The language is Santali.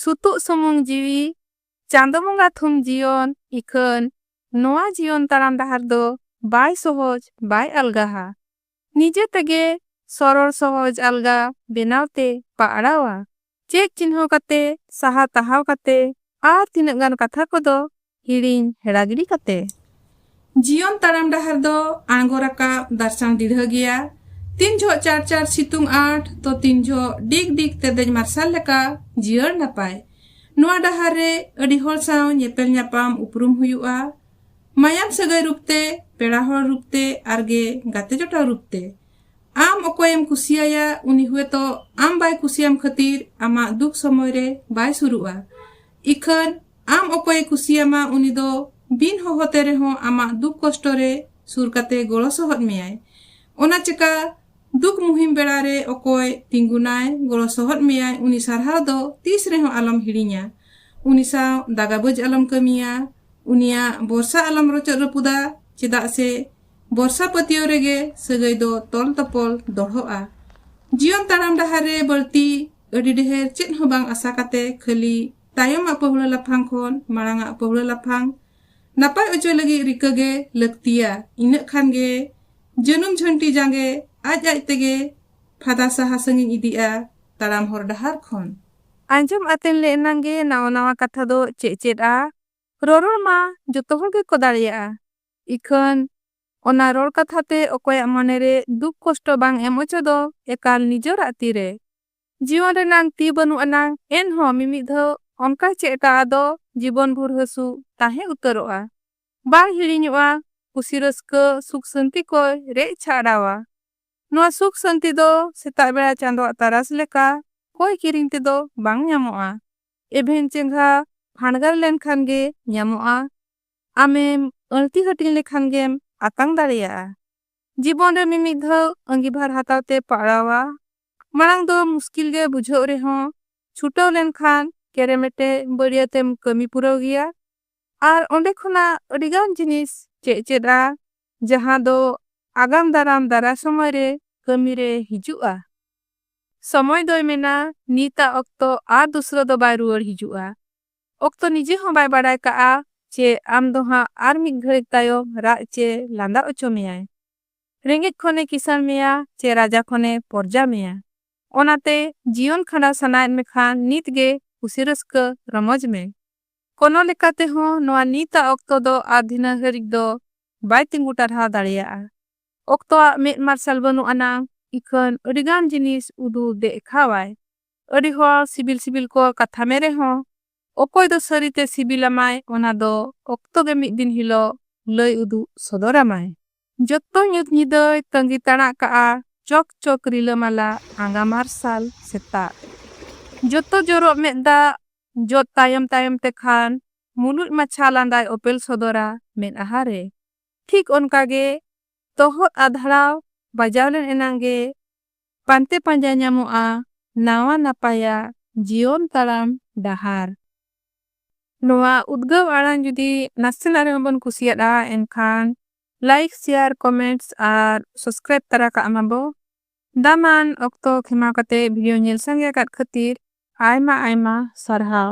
ᱥᱩᱛᱩᱜ ᱥᱩᱢᱩᱝ ᱡᱤᱣᱤ ᱪᱟᱸᱫᱚ ᱵᱚᱸᱜᱟ ᱛᱷᱩᱢ ᱡᱤᱭᱚᱱ ᱤᱠᱷᱟᱹᱱ ᱱᱚᱶᱟ ᱡᱤᱭᱚᱱ ᱛᱟᱲᱟᱢ ᱰᱟᱦᱟᱨ ᱫᱚ ᱵᱟᱭ ᱥᱚᱦᱚᱡᱽ ᱵᱟᱭ ᱟᱞᱜᱟᱦᱟ ᱱᱤᱡᱮ ᱛᱮᱜᱮ ᱥᱚᱨᱚᱲ ᱥᱚᱦᱚᱡᱽ ᱟᱞᱜᱟ ᱵᱮᱱᱟᱣ ᱛᱮ ᱯᱟᱜᱽᱲᱟᱣᱟ ᱪᱮᱫ ᱪᱤᱱᱦᱟᱹᱣ ᱠᱟᱛᱮ ᱥᱟᱦᱟ ᱛᱟᱦᱟᱣ ᱠᱟᱛᱮ ᱟᱨ ᱛᱤᱱᱟᱹᱜ ᱜᱟᱱ ᱠᱟᱛᱷᱟ ᱠᱚᱫᱚ ᱦᱤᱲᱤᱧ ᱦᱮᱲᱟ ᱜᱤᱰᱤ ᱠᱟᱛᱮ᱾ ᱡᱤᱭᱚᱱ ᱛᱟᱲᱟᱢ ᱰᱟᱦᱟᱨ ᱫᱚ ᱟᱬᱜᱚ ᱨᱟᱠᱟᱵ ᱫᱟᱨᱥᱟᱝ ᱰᱤᱲᱦᱟᱹ ᱜᱮᱭᱟ᱾ ᱛᱤᱱ ᱡᱷᱚᱜ ᱪᱟᱲ ᱪᱟᱲ ᱥᱤᱛᱩᱝ ᱟᱸᱴ ᱛᱚ ᱛᱤᱱ ᱡᱷᱚᱜ ᱰᱤᱜᱽ ᱰᱤᱜᱽ ᱛᱮᱨᱫᱮᱡ ᱢᱟᱨᱥᱟᱞ ᱞᱮᱠᱟ ᱡᱤᱭᱟᱹᱲ ᱱᱟᱯᱟᱭ᱾ ᱱᱚᱶᱟ ᱰᱟᱦᱟᱨ ᱨᱮ ᱟᱹᱰᱤ ᱦᱚᱲ ᱥᱟᱶ ᱧᱮᱯᱮᱞ ᱧᱟᱯᱟᱢ ᱩᱯᱨᱩᱢ ᱦᱩᱭᱩᱜᱼᱟ᱾ ᱢᱟᱭᱟᱢ ᱥᱟᱹᱜᱟᱹᱭ ᱨᱩᱯ ᱛᱮ, ᱯᱮᱲᱟ ᱦᱚᱲ ᱨᱩᱯ ᱛᱮ ᱟᱨ ᱜᱮ ᱜᱟᱛᱮ ᱡᱚᱴᱟᱣ ᱨᱩᱯ ᱛᱮ᱾ ᱟᱢ ᱚᱠᱚᱭ ᱮᱢ ᱠᱩᱥᱤ ᱟᱭᱟ ᱩᱱᱤ ᱦᱩᱭᱛᱚ ᱟᱢ ᱵᱟᱭ ᱠᱩᱥᱤ ᱟᱢ ᱠᱷᱟᱹᱛᱤᱨ ᱟᱢᱟᱜ ᱫᱩᱠ ᱥᱚᱢᱚᱭ ᱨᱮ ᱵᱟᱭ ᱥᱩᱨᱩᱜᱼᱟ᱾ ᱤᱠᱷᱟᱹᱱ ᱟᱢ ᱚᱠᱚᱭᱮ ᱠᱩᱥᱤᱭᱟᱢᱟ ᱩᱱᱤ ᱫᱚ ᱵᱤᱱ ᱦᱚᱦᱚ ᱛᱮ ᱨᱮᱦᱚᱸ ᱟᱢᱟᱜ ᱫᱩᱠ ᱠᱚᱥᱴᱚ ᱨᱮ ᱥᱩᱨ ᱠᱟᱛᱮ ᱜᱚᱲᱚ ᱥᱚᱦᱚᱫ ᱢᱮᱭᱟᱭ᱾ ᱚᱱᱟ ᱪᱮᱠᱟ ᱫᱩᱠ ᱢᱩᱦᱤᱢ ᱵᱮᱲᱟ ᱨᱮ ᱚᱠᱚᱭ ᱛᱤᱸᱜᱩᱱᱟᱭ, ᱜᱚᱲᱚ ᱥᱚᱦᱚᱫ ᱢᱮᱭᱟᱭ ᱩᱱᱤ ᱥᱟᱨᱦᱟᱣ ᱫᱚ ᱛᱤᱥ ᱨᱮᱦᱚᱸ ᱟᱞᱚᱢ ᱦᱤᱲᱤᱧᱟ᱾ ᱩᱱᱤ ᱥᱟᱶ ᱫᱟᱜᱟᱵᱟᱹᱡᱽ ᱟᱞᱚᱢ ᱠᱟᱹᱢᱤᱭᱟ᱾ ᱩᱱᱤᱭᱟᱜ ᱵᱚᱨᱥᱟ ᱟᱞᱚᱢ ᱨᱚᱪᱚᱫ ᱨᱟᱹᱯᱩᱫᱟ ᱪᱮᱫᱟᱜ ᱥᱮ ᱵᱚᱨᱥᱟ ᱯᱟᱹᱛᱭᱟᱹᱣ ᱨᱮᱜᱮ ᱥᱟᱹᱜᱟᱹᱭ ᱫᱚ ᱛᱚᱞ ᱛᱚᱯᱚᱞ ᱫᱚᱲᱦᱚᱜᱼᱟ᱾ ᱡᱤᱭᱚᱱ ᱛᱟᱲᱟᱢ ᱰᱟᱦᱟᱨ ᱨᱮ ᱵᱟᱹᱲᱛᱤ ᱟᱹᱰᱤ ᱰᱷᱮᱨ ᱪᱮᱫ ᱦᱚᱸ ᱵᱟᱝ ᱟᱥᱟ ᱠᱟᱛᱮ ᱠᱷᱟᱹᱞᱤ ᱛᱟᱭᱚᱢᱟᱜ ᱯᱟᱹᱦᱩᱲᱟᱹ ᱞᱟᱯᱷᱟᱝ ᱠᱷᱚᱱ ᱢᱟᱲᱟᱝᱟᱜ ᱯᱟᱹᱦᱩᱲᱟᱹ ᱞᱟᱯᱷᱟᱝ ᱱᱟᱯᱟᱭ ᱚᱪᱚ ᱞᱟᱹᱜᱤᱫ ᱨᱤᱠᱟᱹ ᱜᱮ ᱞᱟᱹᱠᱛᱤᱭᱟ ᱤᱱᱟᱹᱜ ᱠᱷᱟᱱ ᱜᱮ ᱡᱟᱹᱱᱩᱢ ᱡᱷᱟᱹᱱᱴᱤ ᱡᱟᱸᱜᱮ ᱟᱡ ᱟᱡ ᱛᱮᱜᱮ ᱯᱷᱟᱫᱟ ᱥᱟᱦᱟ ᱥᱟᱺᱜᱤᱧ ᱤᱫᱤᱜᱼᱟ ᱛᱟᱲᱟᱢ ᱦᱚᱨ ᱰᱟᱦᱟᱨ ᱠᱷᱚᱱ᱾ ᱟᱸᱡᱚᱢ ᱟᱛᱮᱱ ᱞᱮ ᱮᱱᱟᱝ ᱜᱮ ᱱᱟᱣᱟ ᱱᱟᱣᱟ ᱠᱟᱛᱷᱟ ᱫᱚ ᱪᱮᱫ ᱪᱮᱫᱼᱟ᱾ ᱨᱚᱨᱚᱲ ᱢᱟ ᱡᱚᱛᱚ ᱦᱚᱲ ᱜᱮᱠᱚ ᱫᱟᱲᱮᱭᱟᱜᱼᱟ᱾ ᱤᱠᱷᱟᱹᱱ ᱚᱱᱟ ᱨᱚᱲ ᱠᱟᱛᱷᱟ ᱛᱮ ᱚᱠᱚᱭᱟᱜ ᱢᱚᱱᱮ ᱨᱮ ᱫᱩᱠ ᱠᱚᱥᱴᱚ ᱵᱟᱝ ᱮᱢ ᱚᱪᱚ ᱫᱚ ᱮᱠᱟᱞ ᱱᱤᱡᱚᱨᱟᱜ ᱛᱤ ᱨᱮ᱾ ᱡᱤᱭᱚᱱ ᱨᱮᱱᱟᱝ ᱛᱤ ᱵᱟᱹᱱᱩᱜ ᱟᱱᱟᱝ ᱮᱱ ᱦᱚᱸ ᱢᱤᱢᱤᱫ ᱫᱷᱟᱹᱣ ᱚᱱᱠᱟ ᱪᱮᱫ ᱴᱟᱜ ᱟᱫᱚ ᱡᱤᱵᱚᱱ ᱵᱷᱩᱨ ᱦᱟᱹᱥᱩ ᱛᱟᱦᱮᱸ ᱩᱛᱟᱹᱨᱚᱜᱼᱟ᱾ ᱵᱟᱝ ᱦᱤᱲᱤᱧᱚᱜᱼᱟ᱾ ᱠᱩᱥᱤ ᱨᱟᱹᱥᱠᱟᱹ ᱥᱩᱠ ᱥᱟᱹᱱᱛᱤ ᱠᱚᱭ ᱨᱮᱡ ᱪᱷᱟᱜᱲᱟᱣᱟ᱾ ᱱᱚᱶᱟ ᱥᱩᱠ ᱥᱟᱹᱱᱛᱤ ᱫᱚ ᱥᱮᱛᱟᱜ ᱵᱮᱲᱟ ᱪᱟᱸᱫᱚᱣᱟᱜ ᱛᱟᱨᱟᱥ ᱞᱮᱠᱟ ᱠᱚᱭ ᱠᱤᱨᱤᱧ ᱛᱮ ᱫᱚ ᱵᱟᱝ ᱧᱟᱢᱚᱜᱼᱟ᱾ ᱮᱵᱷᱮᱱ ᱪᱮᱸᱜᱷᱟ ᱯᱷᱟᱸᱰᱜᱟᱨ ᱞᱮᱱ ᱠᱷᱟᱱ ᱜᱮ ᱧᱟᱢᱚᱜᱼᱟ᱾ ᱟᱢᱮᱢ ᱟᱹᱬᱛᱤ ᱦᱟᱹᱴᱤᱧ ᱞᱮᱠᱷᱟᱱ ᱜᱮᱢ ᱟᱛᱟᱝ ᱫᱟᱲᱮᱭᱟᱜᱼᱟ᱾ ᱡᱤᱵᱚᱱ ᱨᱮ ᱢᱤᱢᱤᱫ ᱫᱷᱟᱣ ᱟᱺᱜᱤᱵᱷᱟᱨ ᱦᱟᱛᱟᱣ ᱛᱮ ᱯᱟᱲᱟᱣᱟ᱾ ᱢᱟᱲᱟᱝ ᱫᱚ ᱢᱩᱥᱠᱤᱞ ᱜᱮ ᱵᱩᱡᱷᱟᱹᱣᱜ ᱨᱮᱦᱚᱸ ᱪᱷᱩᱴᱟᱹᱣ ᱞᱮᱱ ᱠᱷᱟᱱ ᱠᱮᱨᱮᱢᱮᱴᱮ ᱵᱟᱹᱲᱭᱟᱹᱛ ᱮᱢ ᱠᱟᱹᱢᱤ ᱯᱩᱨᱟᱹᱣ ᱜᱮᱭᱟ ᱟᱨ ᱚᱸᱰᱮ ᱠᱷᱚᱱᱟᱜ ᱟᱹᱰᱤ ᱜᱟᱱ ᱡᱤᱱᱤᱥ ᱪᱮᱫ ᱪᱮᱫᱼᱟ ᱡᱟᱦᱟᱸ ᱫᱚ ᱟᱜᱟᱢ ᱫᱟᱨᱟᱢ ᱫᱟᱨᱟᱭ ᱥᱚᱢᱚᱭ ᱨᱮ ᱠᱟᱹᱢᱤ ᱨᱮ ᱦᱤᱡᱩᱜᱼᱟ᱾ ᱥᱚᱢᱚᱭ ᱫᱚᱭ ᱢᱮᱱᱟ ᱱᱤᱛ ᱟᱜ ᱚᱠᱛᱚ ᱟᱨ ᱫᱩᱥᱨᱟᱹ ᱫᱚ ᱵᱟᱭ ᱨᱩᱣᱟᱹᱲ ᱦᱤᱡᱩᱜᱼᱟ᱾ ᱚᱠᱛᱚ ᱱᱤᱡᱮ ᱦᱚᱸ ᱵᱟᱭ ᱵᱟᱰᱟᱭ ᱠᱟᱜᱼᱟ ᱪᱮ ᱟᱢ ᱫᱚ ᱦᱟᱸᱜ ᱟᱨ ᱢᱤᱫ ᱜᱷᱟᱹᱲᱤᱠ ᱛᱟᱭᱚᱢ ᱨᱟᱜ ᱪᱮ ᱞᱟᱸᱫᱟ ᱚᱪᱚ ᱢᱮᱭᱟᱭ᱾ ᱨᱮᱸᱜᱮᱡ ᱠᱷᱚᱱ ᱮ ᱠᱤᱥᱟᱹᱬ ᱢᱮᱭᱟ ᱪᱮ ᱨᱟᱡᱟ ᱠᱷᱚᱱ ᱮ ᱯᱚᱨᱡᱟ ᱢᱮᱭᱟ᱾ ᱚᱱᱟᱛᱮ ᱡᱤᱭᱚᱱ ᱠᱷᱟᱸᱰᱟᱣ ᱥᱟᱱᱟᱭᱮᱫ ᱢᱮᱠᱷᱟᱱ ᱱᱤᱛ ᱜᱮ ᱠᱩᱥᱤ ᱨᱟᱹᱥᱠᱟᱹ ᱨᱚᱢᱚᱡᱽ ᱢᱮ᱾ ᱠᱚᱱᱚ ᱞᱮᱠᱟ ᱛᱮᱦᱚᱸ ᱱᱚᱶᱟ ᱱᱤᱛ ᱟᱜ ᱚᱠᱛᱚ ᱫᱚ ᱟᱨ ᱫᱷᱤᱱᱟᱹ ᱦᱟᱹᱨᱤᱡ ᱫᱚ ᱵᱟᱭ ᱛᱤᱸᱜᱩ ᱴᱟᱨᱦᱟᱣ ᱫᱟᱲᱮᱭᱟᱜᱼᱟ᱾ ᱚᱠᱛᱚ ᱟᱜ ᱢᱮᱫ ᱢᱟᱨᱥᱟᱞ ᱵᱟᱹᱱᱩᱜ ᱟᱱᱟᱝ ᱤᱠᱷᱟᱹᱱ ᱟᱹᱰᱤ ᱜᱟᱱ ᱡᱤᱱᱤᱥ ᱩᱫᱩᱜ ᱫᱮᱜᱠᱷᱟᱣ ᱟᱭ᱾ ᱟᱹᱰᱤ ᱦᱚᱲ ᱥᱤᱵᱤᱞ ᱥᱤᱵᱤᱞ ᱠᱚ ᱠᱟᱛᱷᱟ ᱢᱮ ᱨᱮᱦᱚᱸ ᱚᱠᱚᱭ ᱫᱚ ᱥᱟᱹᱨᱤᱛᱮ ᱥᱤᱵᱤᱞ ᱟᱢᱟᱭ ᱚᱱᱟ ᱫᱚ ᱚᱠᱛᱚ ᱜᱮ ᱢᱤᱫ ᱫᱤᱱ ᱦᱤᱞᱚᱜ ᱞᱟᱹᱭ ᱩᱫᱩᱜ ᱥᱚᱫᱚᱨ ᱟᱢᱟᱭ᱾ ᱡᱚᱛᱚ ᱧᱩᱛ ᱧᱤᱫᱟᱹᱭ ᱛᱟᱺᱜᱤ ᱛᱟᱬᱟᱜ ᱠᱟᱜᱼᱟ ᱪᱚᱠ ᱪᱚᱠ ᱨᱤᱞᱟᱹᱢᱟᱞᱟ ᱟᱸᱜᱟ ᱢᱟᱨᱥᱟᱞ ᱥᱮᱛᱟᱜ᱾ ᱡᱚᱛᱚ ᱡᱚᱨᱚᱜ ᱢᱮᱫ ᱫᱟᱜ ᱡᱚᱫ ᱛᱟᱭᱚᱢ ᱛᱟᱭᱚᱢ ᱛᱮ ᱠᱷᱟᱱ ᱢᱩᱞᱩᱡ ᱢᱟᱪᱷᱟ ᱞᱟᱸᱫᱟᱭ ᱚᱯᱮᱞ ᱥᱚᱫᱚᱨᱟ ᱢᱮᱫᱦᱟ ᱨᱮ᱾ ᱴᱷᱤᱠ ᱚᱱᱠᱟ ᱜᱮ ᱛᱚᱦᱚᱫ ᱟᱫᱷᱲᱟᱣ ᱵᱟᱡᱟᱣ ᱞᱮᱱ ᱮᱱᱟᱝ ᱜᱮ ᱯᱟᱱᱛᱮ ᱯᱟᱸᱡᱟ ᱧᱟᱢᱚᱜᱼᱟ ᱱᱟᱣᱟ ᱱᱟᱯᱟᱭᱟᱜ ᱡᱤᱭᱚᱱ ᱛᱟᱲᱟᱢ ᱰᱟᱦᱟᱨ᱾ ᱱᱚᱣᱟ ᱩᱫᱽᱜᱟᱹᱣ ᱟᱲᱟᱝ ᱡᱩᱫᱤ ᱱᱟᱥᱮᱱᱟᱜ ᱨᱮᱦᱚᱸ ᱵᱚᱱ ᱠᱩᱥᱤᱭᱟᱫᱼᱟ ᱮᱱᱠᱷᱟᱱ ᱞᱟᱭᱤᱠ, ᱥᱮᱭᱟᱨ, ᱠᱚᱢᱮᱱᱴᱥ ᱟᱨ ᱥᱚᱥᱠᱨᱟᱭᱤᱵᱽ ᱛᱟᱨᱟ ᱠᱟᱜ ᱢᱟ ᱵᱚ᱾ ᱫᱟᱢᱟᱱ ᱚᱠᱛᱚ ᱠᱷᱮᱢᱟᱣ ᱠᱟᱛᱮ ᱵᱷᱤᱰᱤᱭᱳ ᱧᱮᱞ ᱥᱟᱸᱜᱮ ᱟᱠᱟᱫ ᱠᱷᱟᱹᱛᱤᱨ ᱟᱭᱢᱟ ᱟᱭᱢᱟ ᱥᱟᱨᱦᱟᱣ᱾